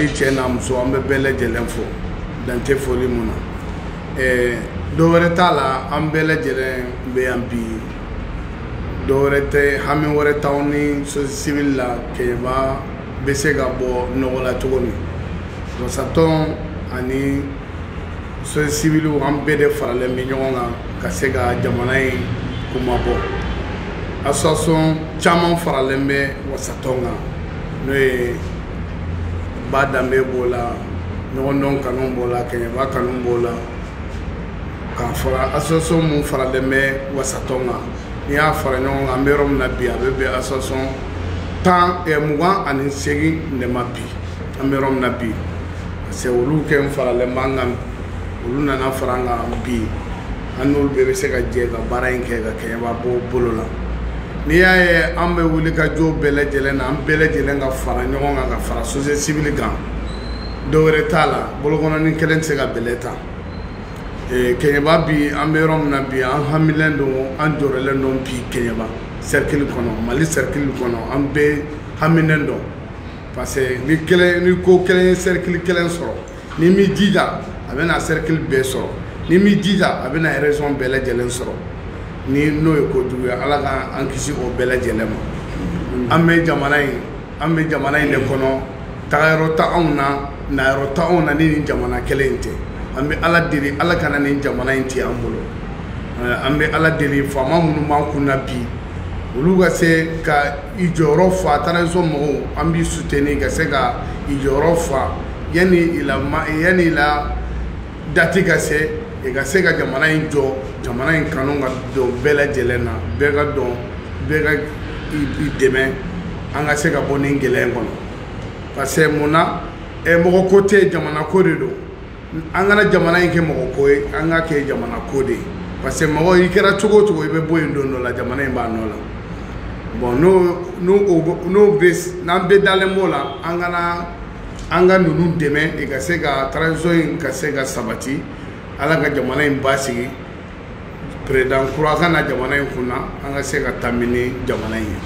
i cɛ n'a muso an bɛ bɛɛ lajɛlen fo dan tɛ foli mun na ɛɛ dɔ wɛrɛ t'a la an bɛɛ lajɛlen bɛ yan bi dɔ wɛrɛ tɛ hami wɛrɛ t'anw ni sosiyete sivili la kɛɲɛba bɛ se ka bɔ nɔgɔ la cogo min wasatɔn ani sosiyete siviliw an bɛɛ de faralen bɛ ɲɔgɔn kan ka se ka jamana in kunmabɔ association caman faralen bɛ wasatɔn kan n'o ye ba danbe b'o la ɲɔgɔndɔn kanu b'o la kɛɲɛba kanu b'o la k'a fara association mun faralen bɛ wasatɔn kan n'i y'a fara ɲɔgɔn kan an bɛ yɔrɔ min na bi a bɛ bɛn association tan eh, mugan ani seegin de ma bi an bɛ yɔrɔ min na bi parce que olu kɛ n faralen b'an kan olu nana fara an kan bi an n'olu bɛɛ bɛ se ka jɛ ka baara in kɛ ka kɛɲɛba bɔ bolo la n'i y'a ye an bɛ wuli ka jɔ bɛɛ lajɛlen na an bɛɛ lajɛlen ka fara ɲɔgɔn kan ka fara sosiyete sivili kan dɔ wɛrɛ t'a la bolokɔnɔni kelen tɛ se ka bɛlɛ ta kɛɲɛba bi an bɛ yɔrɔ min na bi an hamilen don an jɔrɔlen don bi kɛɲɛba sɛrikili kɔnɔ mali sɛrikili kɔnɔ an bɛɛ haminen don parce que ni kelen ni ko kelen ye sɛrikili kelen sɔrɔ n'i m'i jija a bɛna cercle bɛɛ sɔrɔ n'i m'i jija a bɛna région bɛɛ lajɛlen sɔrɔ ni n'o ye ko jugu ye ala ka an kisi o bɛɛ lajɛlen ma mm. an bɛ jamana in an bɛ jamana in de kɔnɔ tagayɔrɔ t'anw na nayɔrɔ t'anw na ni nin jamana kelen in tɛ an bɛ ala deli ala kana nin jamana in tiɲɛ an bolo eh, an bɛ ala deli faama minnu b'an kun na bi olu ka se ka i jɔyɔrɔ fa transition mɔgɔw an b'i soutenir ka se ka i jɔyɔrɔ fa yani i la dati ka se i ka se ka jamana in jɔ jamana in kanu ka don bɛɛ lajɛlen na bɛɛ ka don bɛɛ ka i dɛmɛ an ka se ka bɔ nin gɛlɛya in kɔnɔ parce que mun na mɔgɔ ko tɛ jamana ko de don an kana jamana in kɛ mɔgɔ ko ye an k'a kɛ jamana ko de ye parce que mɔgɔ i kɛra cogo o cogo i bɛ bɔ yen don dɔ la jamana in b'a nɔ la bon n'o bɛ n'an bɛɛ dalen b'o la an kana an ka ninnu dɛmɛ i ka se ka transition in ka se ka sabati ala ka jamana in basigi président kura ka na jamana in kunna an ka se ka tami ni jamana in ye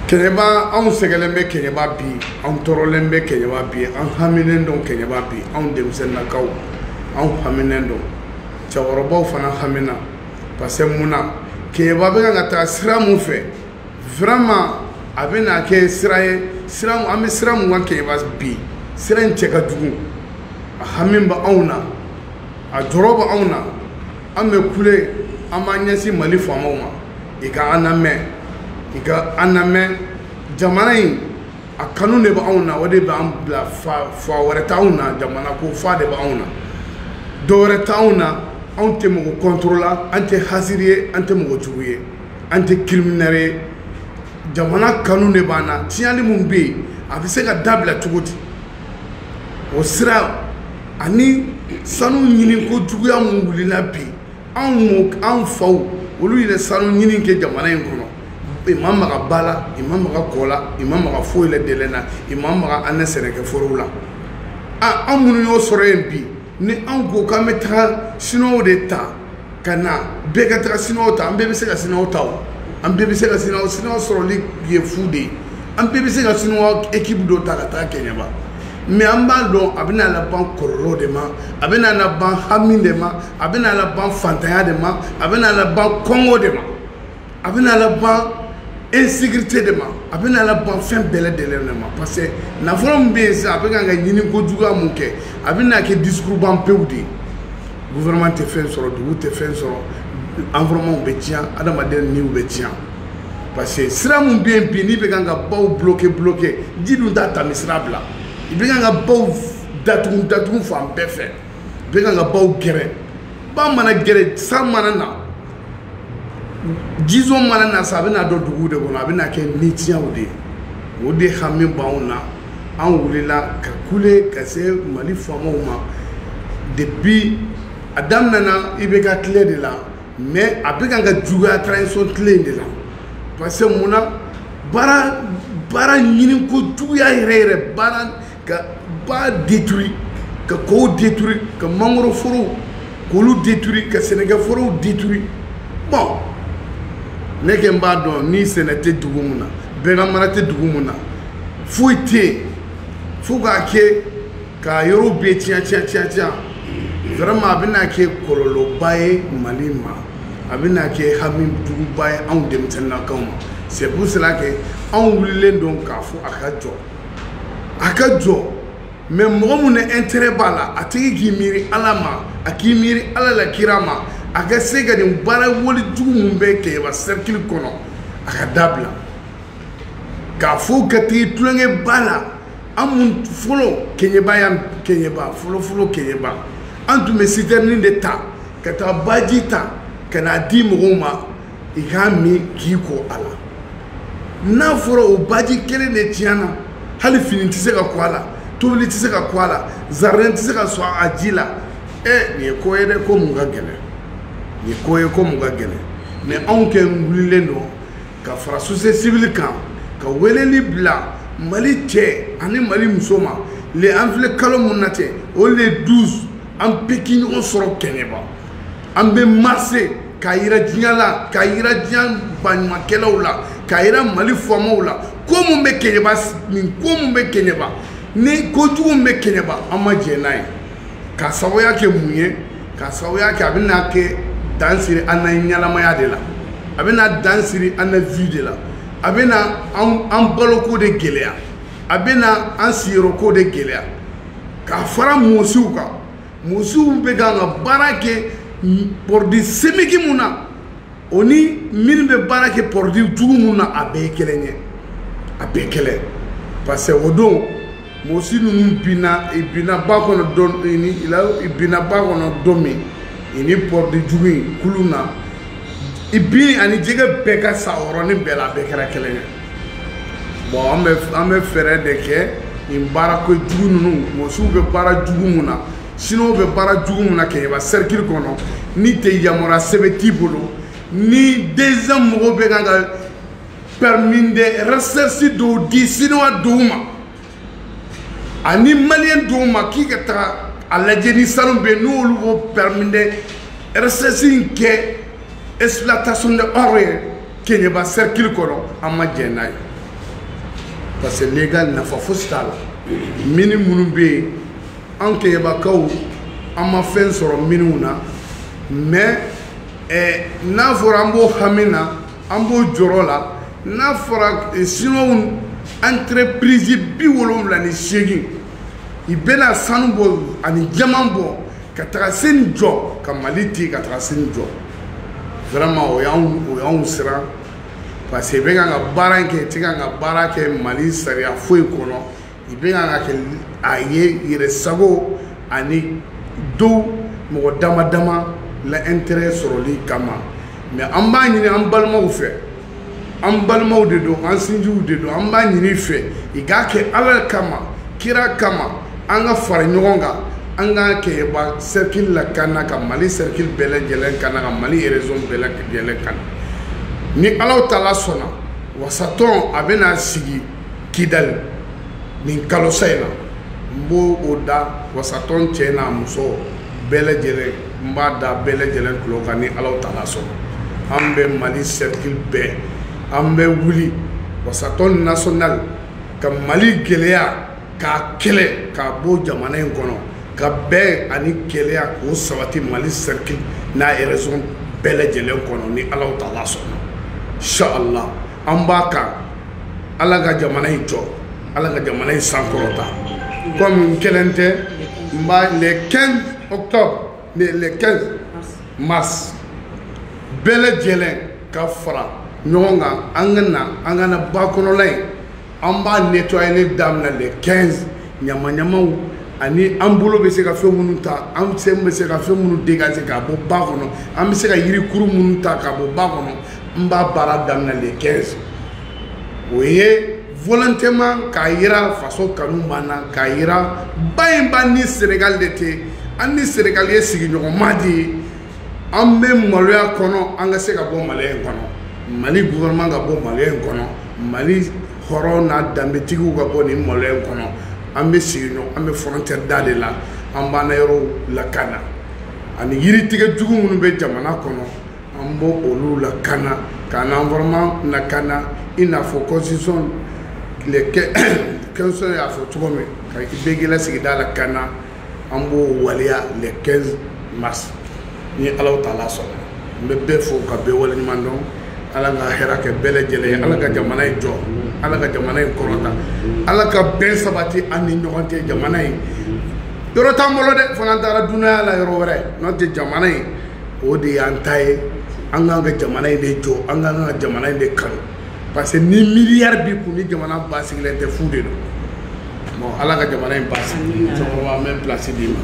kɛɲɛba anw sɛgɛlen bɛ kɛɲɛba bi anw tɔɔrɔlen bɛ kɛɲɛba bi an haminen don kɛɲɛba bi anw denmisɛnnakaw anw haminen don cɛkɔrɔbaw fana hamina parce que mun na kɛɲɛba bɛ kan ka taa sira mun fɛ vraiment a bɛna kɛ sira ye sira an bɛ sira mun kan kɛɲɛba bi sira in cɛ ka jugu a hami bɛ anw na a jɔrɔ bɛ anw na an bɛ kule an b'an ɲɛsin mali faamaw ma i ka an lamɛn i ka an lamɛn jamana in a kanu de bɛ anw na o de b'an bila fa fa wɛrɛ t'anw na jamana ko fa de b'anw na dɔ wɛrɛ t'anw na anw tɛ mɔgɔ contre la an tɛ hasiri ye an tɛ mɔgɔ jugu ye an tɛ criminel ye jamana kanu de b'an na tiɲɛli min bɛ yen a bɛ se ka dabila cogo di o sira ani sanu ɲini ko juguya min wulila bi anw m'o anw faw olu yɛrɛ sanu ɲini kɛ jamana in kɔnɔ i ma maga ba la i ma maga kɔ la i ma maga foyi la dɛlɛ na i ma maga an ka sɛnɛkɛforow la a anw minnu y'o sɔrɔ yen bi ni anw ko k'an bɛ taga siniwaw de ta ka na bɛɛ ka taga siniwaw ta an bɛɛ bɛ se ka siniwaw ta o an bɛɛ bɛ se ka siniwaw siniwaw sɔrɔli ye fu de ye an bɛɛ bɛ se ka siniwaw ekipu dɔ ta ka taa kɛɲɛba mais an b'a dɔn a bɛna laban kɔlɔlɔ de ma a bɛna laban hami de ma a bɛna laban fantanya de ma a bɛna laban kɔngɔ de ma a bɛna laban insécurité de ma a bɛna laban fɛn bɛɛ lajɛlen de ma parce que nafolo min bɛ yen sisan a bɛ kan ka ɲini ko juguya mun kɛ a bɛna kɛ discours ban pewu de ye gouvernement tɛ fɛn sɔrɔ dugu tɛ fɛn sɔrɔ environnement bɛ tiɲɛ adamaden niw bɛ tiɲɛ parce que sira min bɛ yen bi n'i bɛ kan ka baw bloquer bloquer ji dun t'a tami sira bila i bɛ kan ka baw datugu datugu fan bɛɛ fɛ i bɛ kan ka baw gɛrɛn ba mana gɛrɛn san mana na jison mana na sa a bɛna don dugu de kɔnɔ a bɛna kɛ nitiɲɛw de ye o de hami b'anw na an wulila ka kule ka se mali faamaw ma depuis a daminɛna ibk tile de la mais a bɛ kan ka juguya transition tile in de la parce que mun na baara baara ɲini ko juguya yɛrɛ yɛrɛ baara ka ba détruire ka kɔw détruire ka mangoro forow k'olu détruire ka sɛnɛkɛ forow détruire bon ne kɛ n b'a dɔn ni sɛnɛ tɛ dugu mun na baganmara tɛ dugu mun na foyi tɛ yen fo k'a kɛ k'a yɔrɔw bɛɛ tiɲɛ tiɲɛ tiɲɛ tiɲɛ vraiment a bɛna kɛ kɔlɔlɔba ye mali ma a bɛna kɛ hami juguba ye anw denmisɛnninakaw ma c'est pour cela que anw wulilen don k'a fɔ a ka jɔ a ka jɔ mais mɔgɔ mun na intérêt b'a la a tigi k'i miiri ala ma a k'i miiri ala la kira ma a ka se ka nin baara wale jugu mun bɛ kɛɲɛba cercle kɔnɔ a ka dabila k'a fɔ ka tigi tulonkɛ ba la an mun fɔlɔ kɛɲɛba yan kɛɲɛba fɔlɔfɔlɔ kɛɲɛba an tun bɛ sitɛrinin de ta ka taa baji ta ka n'a di mɔgɔw ma i k'a min k'i ko a la n'a fɔra o baji kelen de tiɲɛna hali fini tɛ se ka ko a la tobili tɛ se ka ko a la zaridɛn tɛ se ka sɔn a ji la ɛ nin ye ko ye dɛ ko mun ka gɛlɛn nin ye ko ye ko mun ka gɛlɛn mais anw kɛ wulilen don ka fara société civile kan ka weleli bila mali cɛ ani mali muso ma le an filɛ kalo mun na cɛ o le 12 an bɛɛ k'i ɲɔgɔn sɔrɔ kɛɲɛba an bɛ marcher k'a yira diɲɛ la, k'a yira diɲɛ baɲumankɛlaw la, k'a yira Mali faamaw la, ko mun bɛ Keɲeba, nin ko mun bɛ Keɲeba, ni ko jugu min bɛ Keɲeba, an ma jɛn n'a ye, k'a sababuya kɛ mun ye? K'a sababuya kɛ a bɛna kɛ dan siri an na ɲɛnamaya de la, a bɛna dan siri an na vie de la, a bɛna an baloko de gɛlɛya, a bɛna an sigiyɔrɔko de gɛlɛya, ka fara mɔsiw kan. mɔsiw bɛ kan ka baara kɛ produit chimique mun na o ni minnu bɛ baara kɛ produit jugu mun na a bɛɛ ye kelen ye a bɛɛ kelen parce que o don mɔsi ninnu binna i binna ba kɔnɔ don ni i binna ba kɔnɔ don min i ni produit jugu in kulu na i bin ani jɛgɛ bɛɛ ka sa yɔrɔnin bɛɛ la a bɛɛ kɛra kelen ye bon an bɛ an bɛ fɛɛrɛ de kɛ nin baara ko jugu ninnu mɔsiw bɛ baara jugu mun na siniwaw bɛ baara jugu mun na kɛɲɛba cercle kɔnɔ ni tɛ yamaruya sɛbɛn t'i bolo ni DGM mɔgɔw bɛ kan ka permis de recherche dɔw di siniwa dɔw ma ani maliyɛn dɔw ma k'i ka taga a lajɛ ni sanu bɛ yen n'olu b'o permis de recherche in kɛ exploitation de or ye keɲɛba cercle kɔnɔ an ma jɛn n'a ye parce que légal nafa fosi t'a la mini minnu bɛ yen an keɲɛbakaw an ma fɛn sɔrɔ miniw na mais eh, n'a fɔra an b'o hami na an b'o jɔrɔ la n'a fɔra eh, siniwaw entreprise bi wolonwula ni seegin i bɛna sanu bɔ ani jaman bɔ ka taga sini jɔ ka mali te ka taga sini jɔ vraiment o y'anw o y'anw siran parce que i bɛ kan ka baara in kɛ i tɛ kan ka baara kɛ mali sariya foyi kɔnɔ i bɛ kan ka kɛ a ye yɛrɛ sago ani dɔw mɔgɔ dama dama la intérêt sɔrɔli kama mais an b'a ɲini an balimaw fɛ an balimaw de don an sinjiw de don an b'a ɲini fɛ i k'a kɛ ala kama kira kama an ka fara ɲɔgɔn kan an ka kɛɲɛba cercle lakana ka mali cercle bɛɛ lajɛlen kana ka mali région bɛɛ lajɛlen kana ni ala taala sɔnna wasatɔn a bɛna sigi kidali nin kalosa in na n b'o o da wasatɔn cɛ n'a muso bɛɛ lajɛlen n b'a da bɛɛ lajɛlen tulo kan ni ala taala sɔnna an bɛ mali sɛrikili bɛɛ an bɛ wuli wasatɔn national ka mali gɛlɛya k'a kɛlɛ k'a bɔ jamana in kɔnɔ ka bɛn ani kelenya k'o sabati mali sɛrikili n'a région bɛɛ lajɛlen kɔnɔ ni ala taala sɔnna inshallah an b'a kan ala ka jamana in jɔ ala ka jamana in sankɔrɔta kɔmi n kelen tɛ n b'a le 15 octobre le 15 mars bɛɛ lajɛlen ka fara ɲɔgɔn kan an ka na an ka na ba kɔnɔla in an b'a nettoyer daminɛ le 15 ɲamaɲamaw ani an bolo bɛ se ka fɛn minnu ta an sen bɛ se ka fɛn minnu dégager ka bɔ ba kɔnɔ an bɛ se ka yirikuru minnu ta ka bɔ ba kɔnɔ n b'a baara daminɛ le 15 o ye volontairement k'a yira faso kanu b'an na k'a yira ba in b'an ni Sénégal de tɛ an ni Sénégal ye sigiɲɔgɔnma de ye an bɛ maloya kɔnɔ an ka se ka bɔ maloya in kɔnɔ mali gouvernement ka bɔ maloya in kɔnɔ mali hɔrɔn n'a danbetigiw ka bɔ nin maloya in kɔnɔ an bɛ sigiɲɔgɔn an bɛ frontière da de la an b'an na yɔrɔw lakana ani yiritigɛ jugu minnu bɛ jamana kɔnɔ an b'o olu lakana k'an environnement lakana i n'a fɔ constitution 15 y'a fɔ cogo min ka bɛɛ k'i la sigida lakana an b'o waleya le 15 mars ni ala taala sɔnna n bɛ bɛɛ fo ka bɛɛ waleɲumandɔn ala ka hɛrɛ kɛ bɛɛ lajɛlen ala ka jamana in jɔ ala ka jamana in kɔrɔta ala ka bɛn sabati an ni ɲɔgɔn cɛ jamana in yɔrɔ t'an bolo dɛ fo n'an taara dunanya la yɔrɔ wɛrɛ n'o tɛ jamana in o de y'an ta ye an k'an ka jamana in de jɔ an k'an ka jamana in de kanu parce que ni miliyari b'i kun ni jamana basigilen tɛ fu de don bon ala ka jamana in basigi musokɔrɔba an bɛ pilasi d'i ma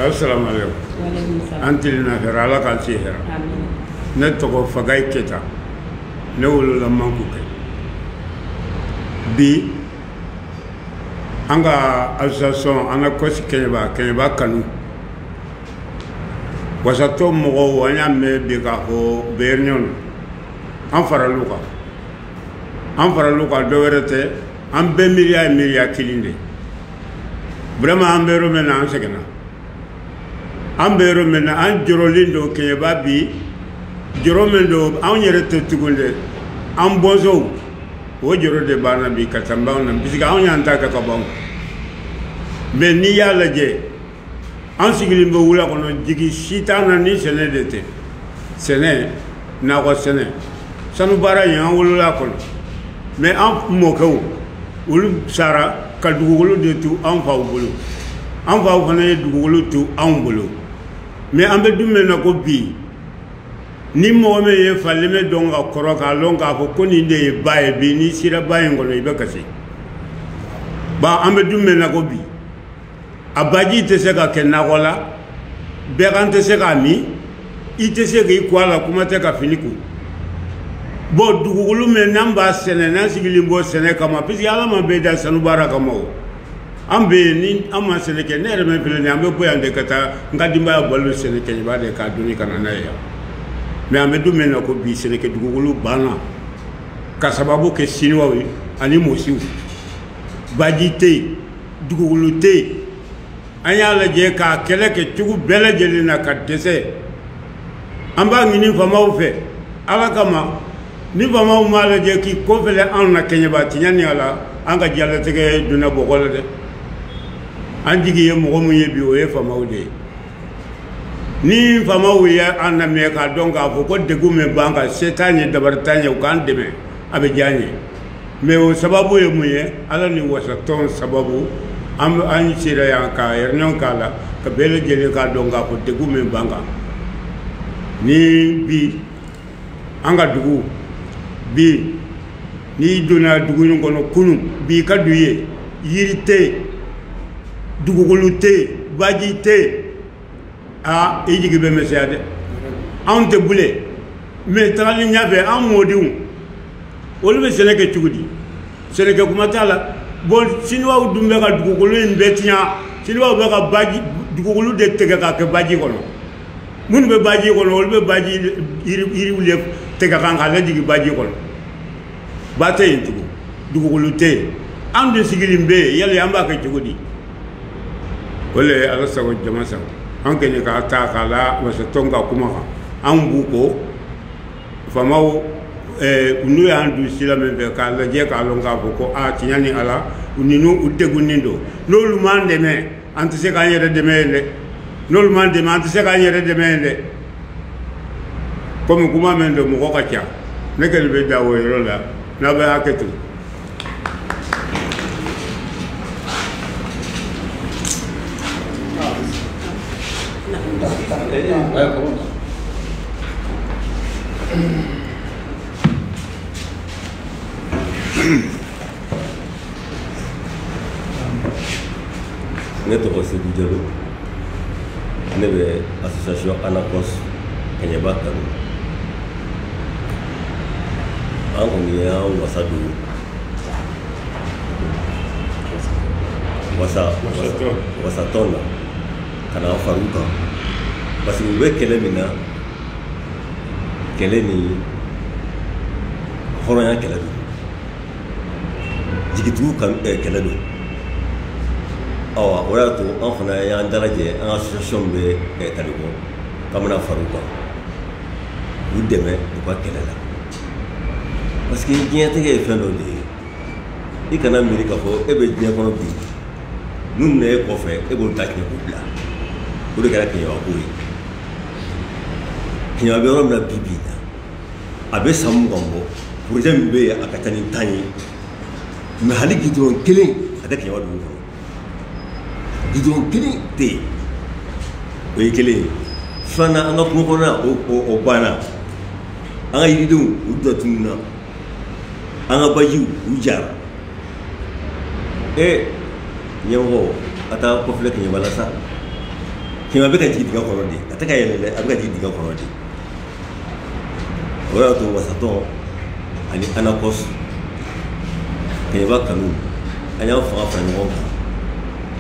assalamu alaikum an tilenna hɛrɛ ala k'an si hɛrɛ ne tɔgɔ fagayi keta ne wolola mankukɛ bi an ka association an ka kɔsi kɛɲɛba kɛɲɛba kanu wasatɔn mɔgɔw an y'a mɛn bi k'a fɔ u bɛ réunion an faral'u kan an faral'u kan dɔwɛrɛ tɛ an bɛɛ miiriya ye miiriya kelen de vraiment an bɛ yɔrɔ min na an sɛgɛnna an bɛ yɔrɔ min na an jɔrɔlen don kɛɲɛba bi jɔrɔ min don anw yɛrɛ tɛ tugun dɛ an bɔnsɔnw o jɔrɔ de b'an na bi ka taa b'anw na puisque anw y'an ta kɛ ka ban mais n'i y'a lajɛ an sigilen bɛ wula kɔnɔ jigi si t'an na ni sɛnɛ de tɛ sɛnɛ nakɔ sɛnɛ sanu baara in an wolola a kɔnɔ mais an mɔkɛw olu sara ka dugukolo de to an faw bolo an faw fana ye dugukolo to anw bolo mais an bɛ don min na ko bi ni mɔgɔ min ye falemɛ dɔn ka kɔrɔ k'a lɔn k'a fɔ ko nin de ye ba ye bi n'i sera ba in kɔnɔ i bɛ kasi ba an bɛ don min na ko bi a baji tɛ se ka kɛ nakɔ la bagan tɛ se k'a min i tɛ se k'i ko a la kuma tɛ ka fini ko bon dugukolo min n'an b'a sɛnɛ n'an sigilen b'o sɛnɛ kama puisque ala ma bɛɛ da sanu baara kama o An bɛ yen ni an ma sɛnɛ kɛ ne yɛrɛ min filɛ nin ye an bɛ bɔ yan de ka taa n ka denbaya balo sɛnɛ kɛɲɛba de k'a doni ka na n'a ye yan mais an bɛ don min na ko bi sɛnɛkɛ dugukolo banna ka sababu kɛ siniwaw ye ani mɔsiw baji tɛ yen dugukolo tɛ yen an y'a lajɛ k'a kɛlɛ kɛ cogo bɛɛ lajɛlen na ka dɛsɛ an b'a ɲini faamaw fɛ ala kama ni faamaw m'a lajɛ k'i kɔfilɛ anw na kɛɲɛba tiɲɛ ni ala an ka diɲɛlatigɛ donna bɔgɔ la dɛ an jigi ye mɔgɔ min ye bi o ye faamaw de ye ni faamaw ye an lamɛn k'a dɔn k'a fɔ ko degun min b'an kan se t'an ye dabari t'an ye u k'an dɛmɛ a bɛ diya an ye mais o sababu ye mun ye ala ni wasatɔn sababu an an sera yan ka yɛrɛnɛw k'a la ka bɛɛ lajɛlen k'a dɔn k'a fɔ degun min b'an kan ni bi an ka dugu bi n'i donna dugu in kɔnɔ kunun bi ka du ye yiri tɛ yen dugukolo tɛ yen baji tɛ yen aa i jigi bɛ misɛnya dɛ anw tɛ bilen mais tagali ɲɛfɛ an mɔdenw olu bɛ sɛnɛ kɛ cogo di sɛnɛkɛ kuma t'a la bon siniwaw dun bɛ ka dugukolo in bɛɛ tiɲɛ siniwaw bɛ ka baji dugukolo de tigɛ k'a kɛ baji kɔnɔ minnu bɛ baji kɔnɔ olu bɛ baji yiriw de tigɛ kan k'a lajigin baji kɔnɔ ba tɛ yen tugun dugukolo tɛ yen an de sigilen bɛ yen yala an b'a kɛ cogo di o le ala sago jama sago an kɛɲɛ k'a ta k'a la wasa tɔn ka kuma kan an b'u kɔ faamaw n'u y'an don sira min fɛ k'a lajɛ k'a lɔn k'a fɔ ko a tiɲɛ ni ala u ninnu u degunnen don n'olu m'an dɛmɛ an tɛ se k'an yɛrɛ dɛmɛ yen dɛ n'olu m'an dɛmɛ an tɛ se k'an yɛrɛ dɛmɛ yen dɛ komi kuma min don mɔgɔ ka ca ne kɔni bɛ dan o yɔrɔ la n'a bɛ hakɛ to Mm-hmm. ne tɔgɔ seyidu jalo ne bɛ association anacos kɛɲɛba kanu an kɔni y'an wasa don wasatɔn na ka na fara u kan parce que u bɛ kɛlɛ min na kɛlɛ nin hɔrɔnya kɛlɛ don jigitugu eh, kɛlɛ don awa o y'a to an fana y'an dalajɛ an ka association bɛ eh, talikɔ k'an bɛna fara u kan u dɛmɛ u ka kɛlɛ la parce que diɲɛtigɛ ye fɛn dɔ de ye i kana miiri k'a fɔ e bɛ diɲɛ kɔnɔ minnu bɛ na e kɔfɛ e b'olu ta tiɲɛ k'u bila o de kɛra keɲɛba ko ye keɲɛba bɛ yɔrɔ min na bi bi in na a bɛ san mugan bɔ projet min bɛ yen a ka ca ni tan ye mais hali gudɔrɔn kelen a tɛ kɛɲɛba dugu kɔnɔ gudɔrɔn kelen tɛ yen o ye kelen ye filanan an ka kungo kɔnɔna o o o banna an ka yiridenw u dɔ tununna an ka bajiw u jara ee ɲɛmɔgɔ a t'a ko filɛ kɛɲɛba la sa kɛɲɛba bɛ ka jigin dingɛ kɔnɔ de a tɛ ka yɛlɛ dɛ a bɛ ka jigin dingɛ kɔnɔ de o y'a to wasatɔn ani anakɔs kɛɲɛba kanu an y'an fanga fara ɲɔgɔn kan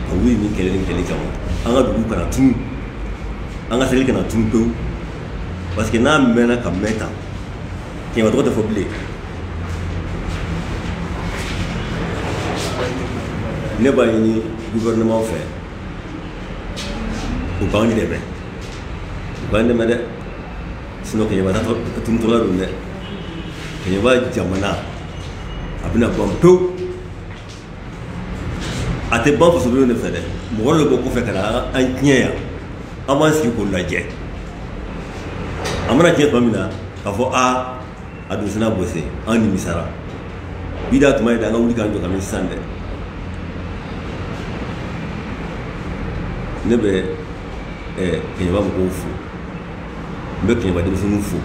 ka wuli nin kɛlɛ nin kɛlɛ kama an ka dugu kana tunu an ka cercle kana tunu pewu parce que n'a mɛnna ka mɛn tan kɛɲɛba tɔgɔ tɛ fɔ bilen ne b'a ɲini gouvernement fɛ u b'an dɛmɛ u b'an dɛmɛ dɛ sinɔn keɲɛba tunutɔla don dɛ keɲɛba jamana a bɛna ban pewu a tɛ ban fasodenw de fɛ dɛ mɔgɔ dɔ bɛ bɔ kɔfɛ ka na an tiɲɛ yan an b'an sigi k'o lajɛ a mana tiɲɛ tuma min na k'a fɔ aa a dun sina bɔsi an nimisara bi d'a tuma ye dɛ an ka wuli k'an jɔ kabini sisan dɛ ne bɛ keɲɛba mɔgɔw fo n bɛ keɲɛba denmisɛnninw fo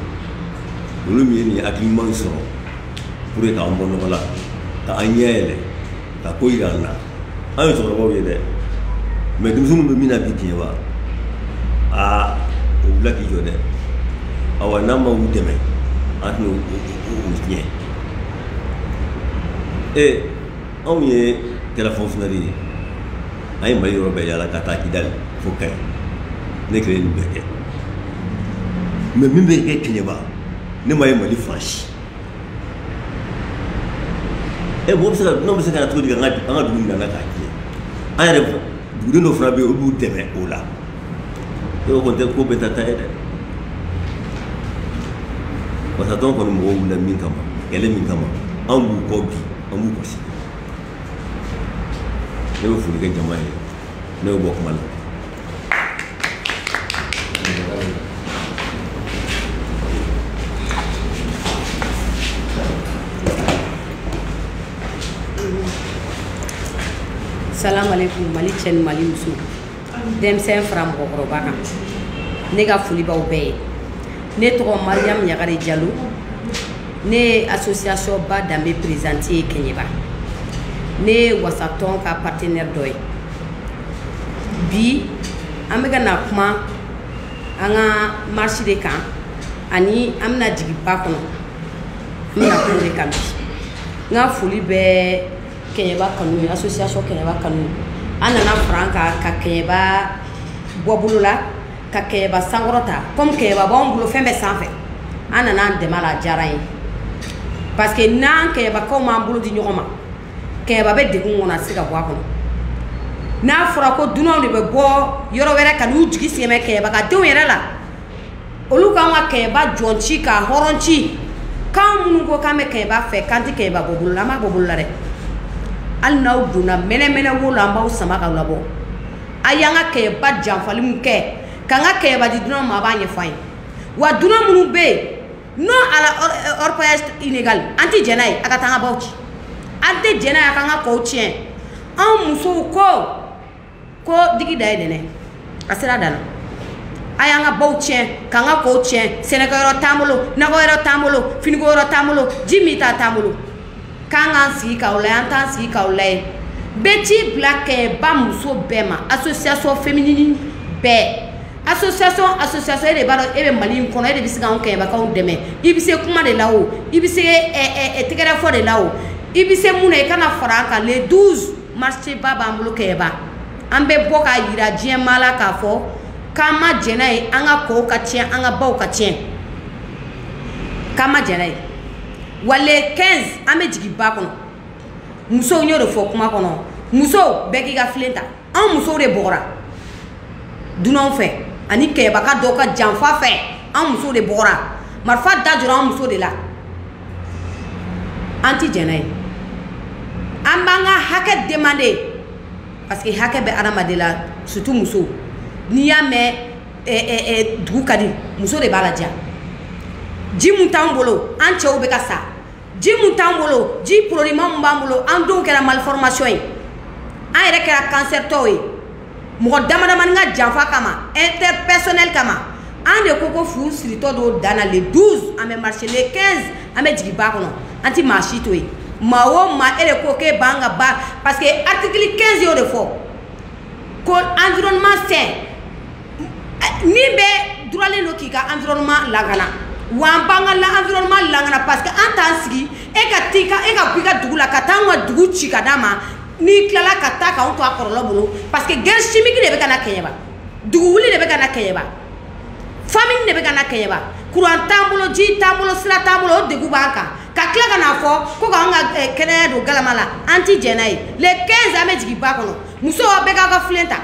olu min ye nin hakili ɲuman sɔrɔ pour que k'an bɔ nɔgɔ la ka an ɲɛ yɛlɛ ka ko yira an na an ye cɛkɔrɔbaw ye dɛ mais denmisɛnninw bɛ min na bi kɛɲɛba aa o wula k'i jɔ dɛ awa n'an ma u dɛmɛ an tɛna u tiɲɛ ee anw ye kɛra fonctionnaire ye an ye mali yɔrɔ bɛɛ yaala ka taa kidali fo kayi ne kelen nin bɛɛ kɛ mais min bɛ kɛ kɛɲɛba ne m'a ye mali fan si e b'o se ka n'o bɛ se ka na cogo di an ka an ka dugu nana k'a tiɲɛ an yɛrɛ dugudenw dɔ fana bɛ yen olu b'u dɛmɛ o la e ko tɛ ko bɛɛ ta ta ye dɛ wasatɔn kɔni mɔgɔw wulila min kama kɛlɛ min kama an b'u kɔ bi an b'u kɔ sini ne bɛ foli kɛ jama ye ne bɛ bɔ kuma la salamaleykum mali cɛ ni mali muso denmisɛn fara mɔgɔkɔrɔba kan ne ka foli b'aw bɛɛ ye ne tɔgɔ mariyamu ɲagare jalo ne ye association ba danbe présidente ye kɛɲɛba ne ye wasatɔn ka partenaire dɔ ye bi an bɛka na kuma an ka marche de kan ani an bɛna jigin ba kɔnɔ an bɛna kuma de kan bi n ka foli bɛ kɛɲɛba kanu ye association kɛɲɛba kanu a nana fara an kan ka kɛɲɛba bɔ bolo la ka kɛɲɛba sankɔrɔta komi kɛɲɛba b'anw bolo fɛn bɛɛ sanfɛ a nana an dɛmɛ a la a diyara an ye parce que n'an kɛɲɛbakaw m'an bolo di ɲɔgɔn ma kɛɲɛba bɛ dɛgun kɔnɔ a tɛ se ka bɔ a kɔnɔ n'a fɔra ko dunanw de bɛ bɔ yɔrɔ wɛrɛ ka n'u jigi sɛmɛ kɛɲɛba ka denw yɛrɛ la olu k'an ka kɛɲɛba jɔn ci ka hɔrɔn ci k'an minnu ko k'an bɛ kɛɲɛba fɛ k'an tɛ kɛɲɛba bɔ bolo la an b'a bɔ bolo la dɛ hali n'aw donna mɛnɛmɛnɛ wo la an b'aw sama ka labɔ a y'an ka kɛɲɛba janfali min kɛ k'an ka kɛɲɛba di dunan ma a b'a ɲɛfɔ an ye wa dunan minnu bɛ yen non à la orpaillage inégal an tɛ jɛn n'a ye a ka taa an ka baw ci an tɛ jɛn n'a ye a k'an ka kɔw tiɲɛ an musow ko ko digi dan ye nin ye a sera dan na a y'an ka baw tiɲɛ k'an ka kɔw tiɲɛ sɛnɛkɛyɔrɔ t'an bolo nakɔyɔrɔ t'an bolo finikoyɔrɔ t'an bolo ji minta t'an bolo k'an k'an sigi k'aw layɛ an t'an sigi k'aw layɛ n bɛ ci bila kɛɲɛba muso bɛɛ ma association féminine bɛɛ association association e de b'a dɔn e bɛ mali in kɔnɔ e de bɛ se k'anw kɛɲɛbakaw dɛmɛ i bɛ se kuma de la o i bɛ se tɛgɛrɛ fɔ de la o i bɛ se mun na i ka na fara an kan le 12 marche ba b'an bolo kɛɲɛba an bɛ bɔ k'a yira diɲɛ maa la k'a fɔ k'an ma jɛn n'a ye an ka kɔw ka tiɲɛ an ka baw ka tiɲɛ k'an ma jɛn n'a ye wa le 15 an bɛ jigin ba kɔnɔ musow y'o de fɔ kuma kɔnɔ musow bɛɛ k'i ka filen ta anw musow de bugɔra dunanw fɛ ani kɛɲɛbaka dɔw ka janfa fɛ anw musow de bugɔra marifa da jɔra anw muso de la an ti jɛn n'a ye an b'an ka hakɛ demande parce que hakɛ bɛ adamaden la surtout musow n'i y'a mɛn dugu ka di muso de b'a ladiya ji min t'an bolo an cɛw bɛ ka sa ji min t'an bolo ji produitma min b'an bolo an denw kɛra malformation ye an yɛrɛ kɛra kansɛritɔw ye mɔgɔ damadamani ka janfa kama intérêt personnel kama an de ko ko fu siritɔ don dan na le 12 an bɛ marcher le 15 an bɛ jigin ba kɔnɔ an tɛ maa si to yen maa o maa e de ko k'e b'an ka ba parce que article 15 y'o de fɔ ko environnement sain min bɛ duralen don k'i ka environnement lakana wa an b'an ka environnement lakana parce que an t'an sigi e ka t'i ka e ka b'i ka dugu la ka taa an ka dugu ci ka d'a ma n'i tilala ka taa k'anw to a kɔlɔlɔ bolo parce que guerre chimique de bɛ ka na kɛɲɛba dugu wuli de bɛ ka na kɛɲɛba famine de bɛ ka na kɛɲɛba kuran t'an bolo ji t'an bolo sira t'an bolo o degun b'an kan ka tila ka n'a fɔ ko k'an ka eh, kɛnɛya don galama la an ti jɛn n'a ye le 15 an bɛ jigin ba kɔnɔ musow aw bɛɛ k'aw ka filen ta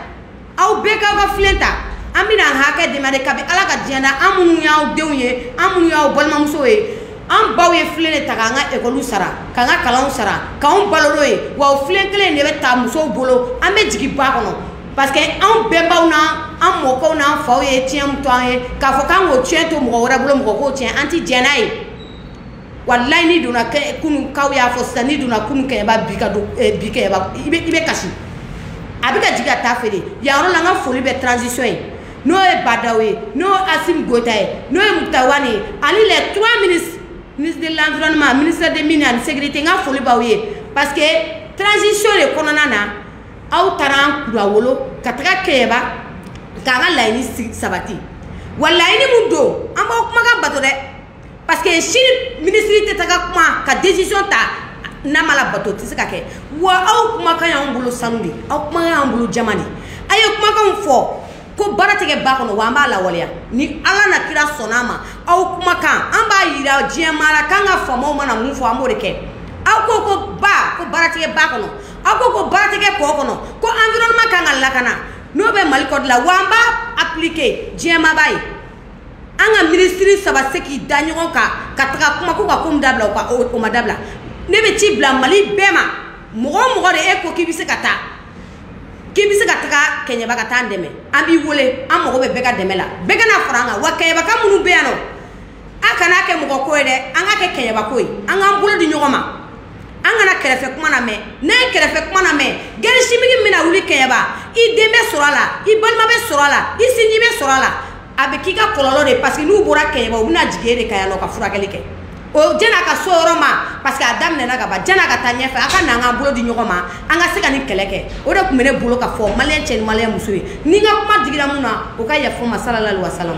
aw bɛɛ k'aw ka filen ta an bɛna an hakɛ demande kabi ala ka diɲɛ na an minnu y'aw denw ye an minnu y'aw balimamusow ye an baw ye filen de ta k'an ka ekɔliw sara k'an ka kalanw sara k'anw balo n'o ye wa o filen kelen de bɛ ta musow bolo an bɛ jigin ba kɔnɔ parce que anw bɛnbaw n'an mɔkɛw n'an faw ye tiɲɛ min to an ye k'a fɔ k'an k'o tiɲɛ to mɔgɔ wɛrɛ bolo mɔgɔ k'o tiɲɛ an ti jɛn n'a ye walayi n'i donna kɛ kunu kaw y'a fɔ sisan n'i donna kunu kɛɲɛba bi ka don eh, bi kɛɲɛba i bɛ i bɛ kasi a bɛ ka jigin ka taa feere yan yɔrɔ la n ka foli bɛ transition ye n'o ye ba ndaw ye n'o ye asimi goyita ye n'o ye mukutari wani ye ani les trois ministres ministre de l'environnement ministre des mines ani sécurité n ka foli b'aw ye parce que transition de kɔnɔna na aw taara an kunnawolo ka taga kɛɲɛba k'an ka laɲini sabati wa laɲini min don an b'aw kumakan bato dɛ parce que sini ministre tɛ taga kuma ka décision ta n'a ma labato tɛ se ka kɛ wa aw kumakan y'anw bolo sanu di aw kumakan y'anw bolo jaman di a ye kumakanw fɔ ko baara tɛ kɛ ba kɔnɔ wa an b'a lawaleya ni ala n'a kira sɔnna a ma aw kumakan an b'a yira diɲɛ maa la k'an ka faamaw mana min fɔ an b'o de kɛ aw ko ko ba ko baara tɛ kɛ ba kɔnɔ aw ko ko baara tɛ kɛ kɔ kɔnɔ ko environnement kan ka lakana n'o bɛ mali kɔdi la wa an b'a appliquer diɲɛ maa b'a ye an ka minisiri saba se k'i da ɲɔgɔn kan ka taga kuma ko ka ko min dabila o ka o ma dabila ne bɛ ci bila mali bɛɛ ma mɔgɔ o mɔgɔ de e ko k'i bɛ se ka taa k'i bɛ se ka taga kɛɲɛba ka taa an dɛmɛ an b'i wele an mago bɛ bɛɛ ka dɛmɛ la bɛɛ ka na fara an kan wa kɛɲɛbaka minnu bɛ yan nɔ a kana kɛ mɔgɔ ko ye dɛ an k'a kɛ kɛɲɛba ko ye an k'an bolo di ɲɔgɔn ma an kana kɛrɛfɛ kuma namɛn n'a ye kɛrɛfɛ kuma namɛn guerre chimique min bɛna wuli kɛɲɛba i den bɛ sɔrɔ a la i balima bɛ sɔrɔ a la i sinji bɛ sɔrɔ a la a bɛ k'i ka kɔlɔlɔ de parce que n'u bɔra kɛɲɛba u bɛna jigin e de kan yan nɔ ka furakɛli kɛ o jɛn'a ka se o yɔrɔ ma parce que a daminɛna ka ban jɛn'a ka taa ɲɛfɛ a ka na an k'an bolo di ɲɔgɔn ma an ka se ka nin kɛlɛ kɛ o de tun bɛ ne bolo ka fɔ maliyɛn cɛ ni maliyɛn muso ye ni n ka kuma digira min na o ka yafa n ma salalali wa salam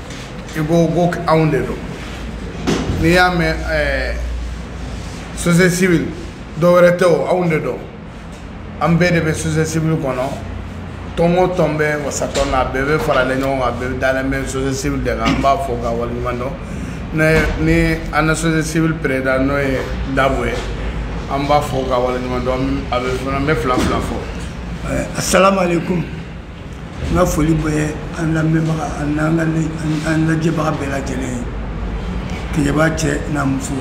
i ko ko anw de don n'i y'a mɛn ɛɛ société civile dɔ wɛrɛ tɛ o anw de don an bɛɛ de bɛ société civile kɔnɔ tɔn o tɔn bɛ wasatɔn na a bɛɛ bɛ faralen ɲɔgɔn kan a bɛɛ dalen bɛ société civile de kan an b'a fo k'a waleɲuman dɔn ne ni an ka société civile président n'o ye dabo ye an b'a fo k'a waleɲuman dɔn a bɛ fana n bɛ fila fila fɔ. asalaamaaleykum. n ka foli bɛ an lamɛnbaga an n'an ka le- an- an lajɛbaga bɛɛ lajɛlen ye kɛɲɛba cɛ n'a muso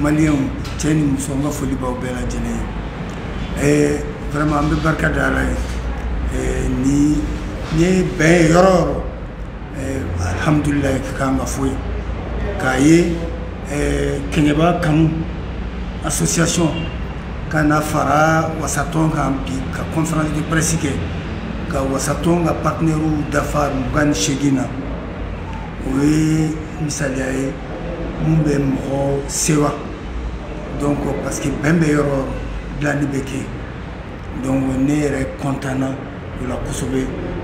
maliyɛnw cɛ ni muso n ka foli b'aw bɛɛ lajɛlen ye Eh, vraiment an bɛ barika da ala ye Eh, ni n'i ye bɛn ye yɔrɔ o yɔrɔ alihamdulilahi ka kan ka fɔ yen k'a ye kɛɲɛba kanu association ka na fara wasatɔn kan bi ka conférence de presse kɛ ka wasatɔn ka partenaires dafa mugan ni seegin na o ye misaliya ye min bɛ mɔgɔ sewa donc parce que bɛn bɛ yɔrɔ dilanni bɛ kɛ donc ne yɛrɛ kɔntanna o la kosɛbɛ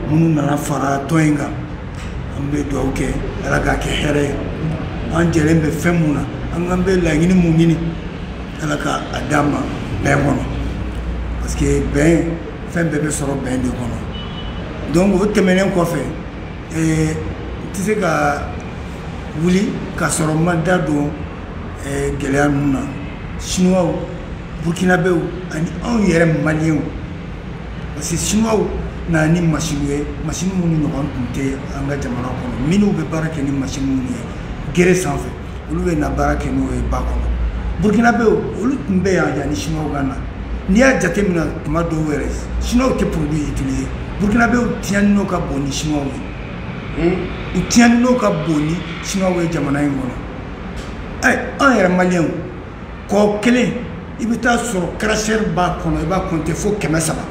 minnu nana fara tɔn in kan an bɛ dugawu kɛ ala k'a kɛ hɛrɛ ye an jɛlen bɛ fɛn min na an'an bɛ laɲini min ɲini ala k'a d'an ma bɛn kɔnɔ parce que bɛn fɛn bɛɛ bɛ sɔrɔ bɛn de kɔnɔ donc o tɛmɛnen kɔfɛ n tɛ se ka wuli ka sɔrɔ n ma da don gɛlɛya ninnu na chinois burkinabew ani anw yɛrɛ maliyɛnw parce que chinois na ni machine ye machine minnu ɲɔgɔn tun tɛ an ka jamana kɔnɔ minnu bɛ baara kɛ ni machine minnu ye gere sanfɛ olu bɛna baara kɛ n'o ye ba kɔnɔ burkinabew olu tun bɛ yan yanni chinois ka na n'i y'a jateminɛ tuma dɔw yɛrɛ chinois tɛ produit utiliser burkinabew tiɲɛni nɔ ka bon ni chinois ye hmm? u tiɲɛni nɔ ka bon ni chinois ye jamana in kɔnɔ ɛ an yɛrɛ maliyɛnw kɔ kelen i bɛ t'a sɔrɔ cracheur b'a kɔnɔ i b'a kɔnte fo kɛmɛ saba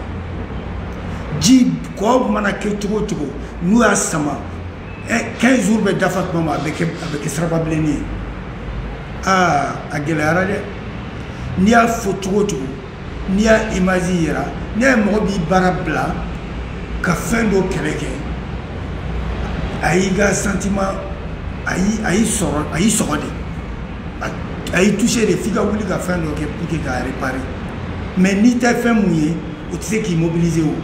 ji kɔ mana kɛ cogo o cogo n'u y'a sama quinze jours bɛ dafa tuma ma a bɛ kɛ a bɛ kɛ siraba bilennin ye aa a gɛlɛyara dɛ n'i y'a fɔ cogo o cogo n'i y'a image yira n'i y'a ye mɔgɔ b'i baara bila ka fɛn dɔ kɛlɛ kɛ a y'i ka sentiment a y'i a y'i sɔrɔ a y'i sɔgɔ de a y'i touché de f'i ka wuli ka fɛn dɔ kɛ pour que k'a réparer mais n'i tɛ fɛn min ye o tɛ se k'i mobiliser o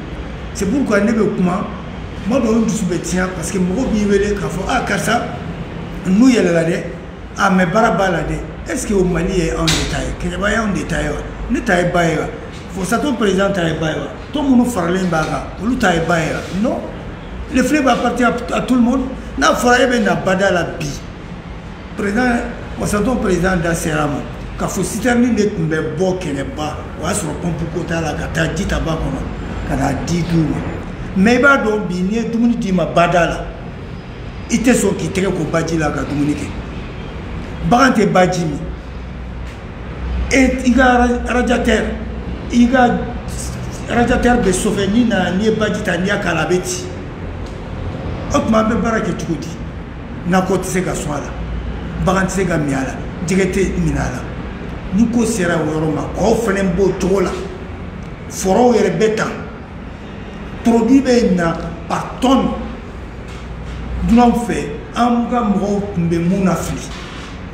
c'est pourquoi ne bɛ kuma tuma dɔw n dusu bɛ tiɲɛ parce que mɔgɔw b'i wele k'a fɔ ah karisa n'u yɛlɛla dɛ ah mais baara b'a la dɛ est ce que o mali ye anw de ta ye kɛɲɛba ye anw de ta ye wa ne ta ye ba ye wa wasatɔn président ta ye ba ye wa tɔn minnu faralen b'a kan olu ta ye ba ye wa non le fleuve appartient à tout le monde n'a fɔra e bɛ na bada la bi président wasatɔn président da sera ma k'a fɔ citerne de tun bɛ bɔ kɛɲɛba o y'a sɔrɔ pɔnpu ko t'a la ka taa ji ta ba kɔnɔ ka n'a di du ma mais i b'a dɔn bi n'i ye dumuni d'i ma bada la i tɛ sɔn k'i tɛgɛ ko baji la ka dumuni kɛ bagan tɛ baji min e i ka radiateur i ka radiateur bɛ chauffer n'i nana n'i ye baji ta n'i y'a k'a la a bɛ ci o tuma an bɛ baara kɛ cogo di nakɔ tɛ se ka sɔn a la bagan tɛ se ka min a la jɛgɛ tɛ minɛ a la ni ko sera o yɔrɔ ma kɔw fana b'o cogo la forow yɛrɛ bɛ tan produit bɛ na par tonne dunanw fɛ an ka mɔgɔw tun bɛ min nafili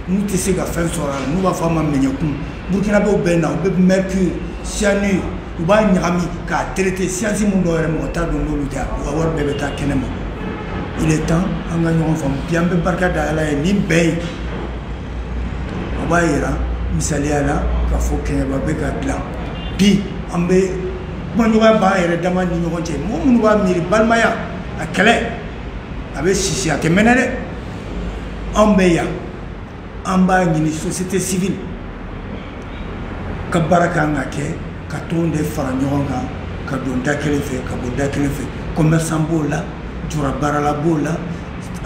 n'u tɛ se ka fɛn sɔrɔ a la n'u b'a fɔ a ma mɛɲɛkun burukinabɛw bɛ na u bɛ mercure cyanure u b'a ɲagami k'a traiter science min dɔw yɛrɛ mɔgɔ t'a dɔn n'olu tɛ u ka wari bɛɛ bɛ taa kɛnɛ ma il est temps an ka ɲɔgɔn faamu bi an bɛ barika da ala ye nin bɛɛ ye o b'a yira misaliya la k'a fɔ kɛɲɛba bɛ ka dilan bi an bɛ kumaɲɔgɔnya b'an yɛrɛ dama ni ɲɔgɔn cɛ mɔgɔ minnu b'a miiri balimaya a kɛlɛ a bɛ sisi a tɛ mɛnɛ dɛ anw bɛ yan an b'a ɲini société civile ka baara kan ka kɛ ka tɔn de fara ɲɔgɔn kan ka don da kelen fɛ ka bɔ da kelen fɛ commerçant b'o la jura baarala b'o la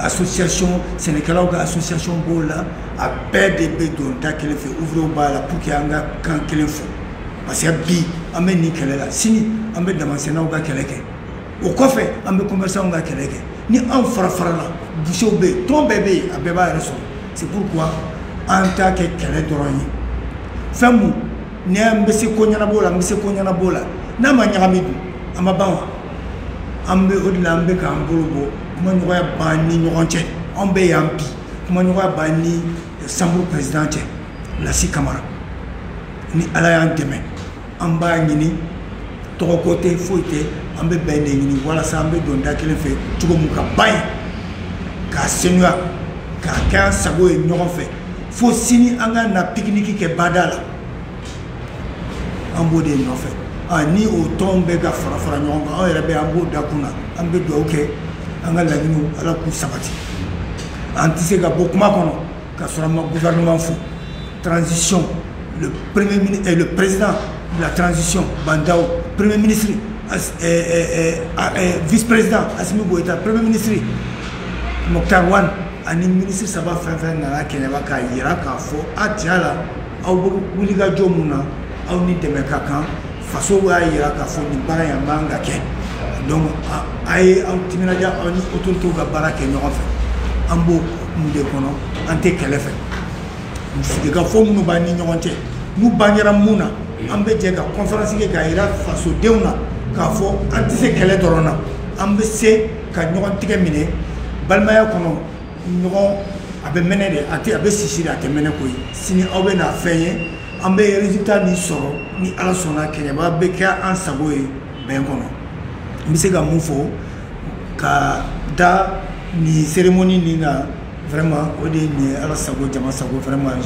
association sɛnɛkɛlaw ka association b'o la a bɛɛ de bɛ don da kelen fɛ ouvriers b'a la pour que an ka kan kelen fɔ parce que bi an bɛ nin kɛlɛ la sini an bɛ damansennaw ka kɛlɛ kɛ o kɔfɛ an bɛ commerçants ka kɛlɛ kɛ ni anw fara farala bouchers bɛ yen tɔn bɛɛ bɛ yen a bɛɛ b'a yɛrɛ sɔrɔ c'est pourquoi an t'a kɛ kɛlɛ dɔrɔn ye fɛn mun ni an bɛ se ko ɲɛnabɔ la n bɛ se ko ɲɛnabɔ la n'a ma ɲagami dun a ma ban wa an bɛ o de la an bɛ k'an bolo bɔ kumaɲɔgɔnya b'an ni ɲɔgɔn cɛ anw bɛ yan bi kumaɲɔgɔnya b'an ni chambre président cɛ lasi kamara ni ala y'an dɛmɛ an b'a ɲini tɔgɔko tɛ foyi tɛ an bɛ bɛn de ɲini walasa an bɛ don da kelen fɛ cogo min ka ba ye k'a senuya k'a kɛ an sago ye ɲɔgɔn fɛ fo sini an ka na pikiniki kɛ bada la an b'o de nɔfɛ ah, ni o tɔnw bɛ ka fara fara ɲɔgɔn kan an yɛrɛ bɛ an b'o da kun na an bɛ dugawu kɛ an ka laɲiniw ala k'u sabati an tɛ se ka bɔ kuma kɔnɔ ka sɔrɔ an ma gouvernement fo transition le le président de la transition Bah N'Daw premier ministre as, eh, eh, eh, ah, eh, vice président Assimi Goïta premier ministre Moctar Ouane ani ministre saba fɛn fɛn nana keɲɛba k'a yira k'a fɔ a tiɲɛ la aw bɛ wulikajɔ mun na aw ni dɛmɛ ka kan faso y'a jira k'a fɔ nin baara in a man ka kɛ donc a ye aw timinadiya aw ni autoritew ka baara kɛ ɲɔgɔn fɛ an b'o kun de kɔnɔ an tɛ kɛlɛ fɛ sigikafɔ minnu b'an ni ɲɔgɔn cɛ n'u bangera mun na an bɛ jɛ ka conférence kɛ k'a jira fasodenw na k'a fɔ an tɛ se kɛlɛ dɔrɔn na an bɛ se ka ɲɔgɔn tigɛ minɛ balimaya kɔnɔ ɲɔgɔn a bɛ mɛnɛ de a bɛ sisi de a tɛ mɛnɛ koyi sini aw bɛ na fɛn ye an bɛ résultat nin sɔrɔ ni ala sɔnna keɲɛba bɛ kɛ an sago ye bɛn kɔnɔ n bɛ se ka mun fɔ ka da nin cérémonie nin na vraiment o de ye nin ye ala sago jama sago vraiment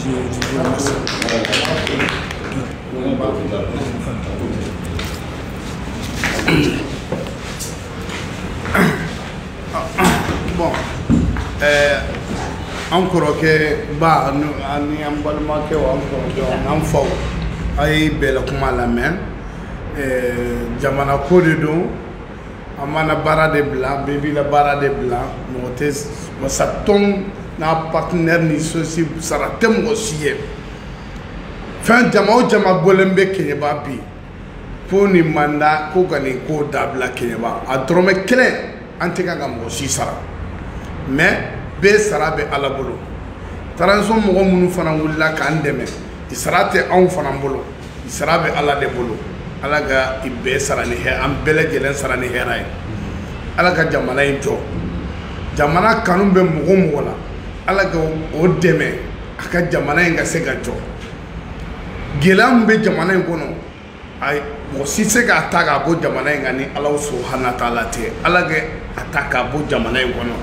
bon eh, an kɔrɔkɛ ba ani an balimakɛw an kɔrɔkɛw an faw a ye bɛɛ la kuma lamɛn eh, jamana ko de don an b'an na baara de bila bɛɛ b'i la baara de bila mɔgɔ tɛ wasa tɔn n'a partenaire ni sosi sara tɛ mɔgɔ si ye fɛn jama o jama bɔlen bɛ keɲɛba bi ko nin manda ko ka nin ko dabila keɲɛba a dɔrɔmɛ kelen an tɛ kan ka mɔgɔ si sara mais bɛɛ sara bɛ ala bolo transition mɔgɔ minnu fana wulila k'an dɛmɛ i sara tɛ anw fana bolo i sara bɛ ala de bolo ala ka i bɛɛ sara ni hɛrɛ an bɛɛ lajɛlen sara ni hɛrɛ ye ala ka jamana in jɔ jamana kanu bɛ mɔgɔ o mɔgɔ la ala ka o dɛmɛ a ka jamana in ka se ka jɔ gɛlɛya min bɛ jamana in kɔnɔ ayi mɔgɔ si se k'a ta k'a bɔ jamana in kan ni ala subahana taala tɛ ala ka a ta k'a bɔ jamana in kɔnɔ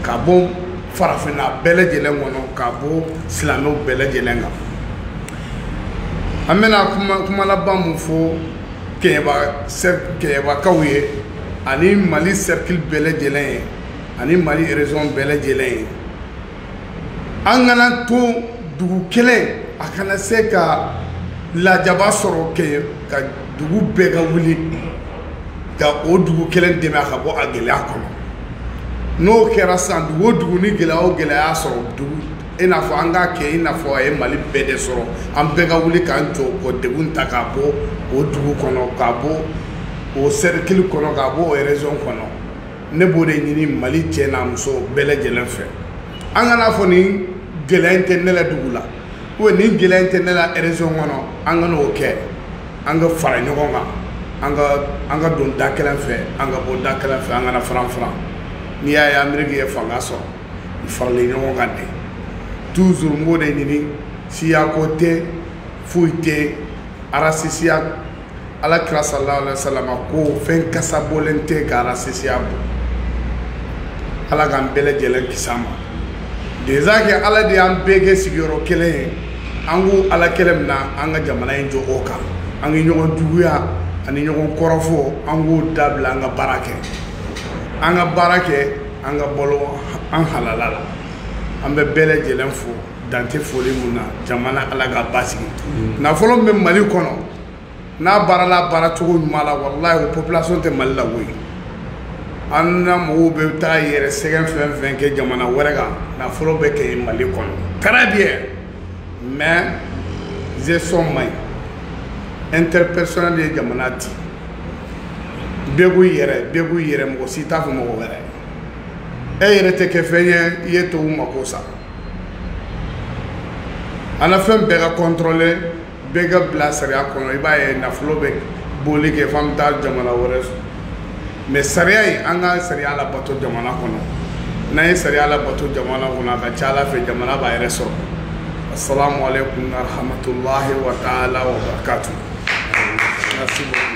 k'a bɔ farafinna bɛɛ lajɛlen kɔnɔ k'a bɔ silamɛw bɛɛ lajɛlen kan an bɛna kuma laban mun fɔ kɛɲɛbakaw ye ani mali sɛrikili bɛɛ lajɛlen ye ani mali erezɔn bɛɛ lajɛlen ye an kana to dugu kelen a kana se ka lajaba sɔrɔ kɛ ka dugu bɛɛ ka wuli ka o dugu kelen dɛmɛ a ka bɔ a gɛlɛya kɔnɔ n'o kɛra sisan dugu o dugu ni gɛlɛya o gɛlɛya sɔrɔ dugu i n'a fɔ an k'a kɛ i n'a fɔ a ye mali bɛɛ de sɔrɔ an bɛɛ ka wuli k'an jɔ k'o degun ta k'a bɔ o dugu kɔnɔ k'a bɔ o sɛrikili kɔnɔ k'a bɔ o erezɔn kɔnɔ ne b'o de ɲini mali cɛ n'a muso bɛɛ lajɛlen fɛ an kan'a fɔ nin gɛlɛya in tɛ ne la dugu la ubiyɛn nin gɛlɛya in tɛ ne la erezɔn kɔnɔ an kana o kɛ an ka fara ɲɔgɔn kan an ka don da kelen fɛ an ka bɔ da kelen fɛ an kana faran faran n'i y'a ye ameriki ye fanga sɔrɔ u faralen ɲɔgɔn kan de toujours n b'o de ɲini siyako tɛ foyi tɛ arasisiya ala kira sallallahu alaihi wasallam ko fɛn kasa bɔlen tɛ ka arasisiya bɔ ala k'an bɛɛ lajɛlen kisi a ma déjà kɛ ala de y'an bɛɛ kɛ sigiyɔrɔ kelen ye an ko ala kelen min na an ka jamana in jɔ o kan an ka ɲɔgɔn juguya ani ɲɔgɔn kɔrɔfɔ an k'o dabila an ka baara kɛ an ka baara kɛ an ka balo an halala la an bɛ bɛɛ lajɛlen fo dan tɛ foli mun na jamana ala ka basigi mm. nafolo min bɛ mali kɔnɔ n'a baarala baara cogo ɲuman la walayi o population tɛ mali la koyi an na mɔgɔw bɛ taa yɛrɛ sɛgɛn fɛn fɛn kɛ jamana wɛrɛ kan nafolo bɛ kɛ mali kɔnɔ très bien mais gestion man ɲi intérêt personnel ye jamana ti bɛɛ k'u yɛrɛ bɛɛ k'u yɛrɛ mɔgɔ si t'a fɔ mɔgɔ wɛrɛ e yɛrɛ tɛ kɛ fɛn ye i ye tubabu mako sa an na fɛn bɛɛ ka kɔntɔrɔle bɛɛ ka bila sariya kɔnɔ i b'a ye nafolo bɛ boli kɛ f'an bɛ taa jamana wɛrɛ mais sariya in an ka sariya labato jamana kɔnɔ n'an ye sariya labato jamana kɔnɔ a ka ca ala fɛ jamana b'a yɛrɛ sɔrɔ assalamu alaikum warahmatullahi wa taala wa barakatuh merci beaucoup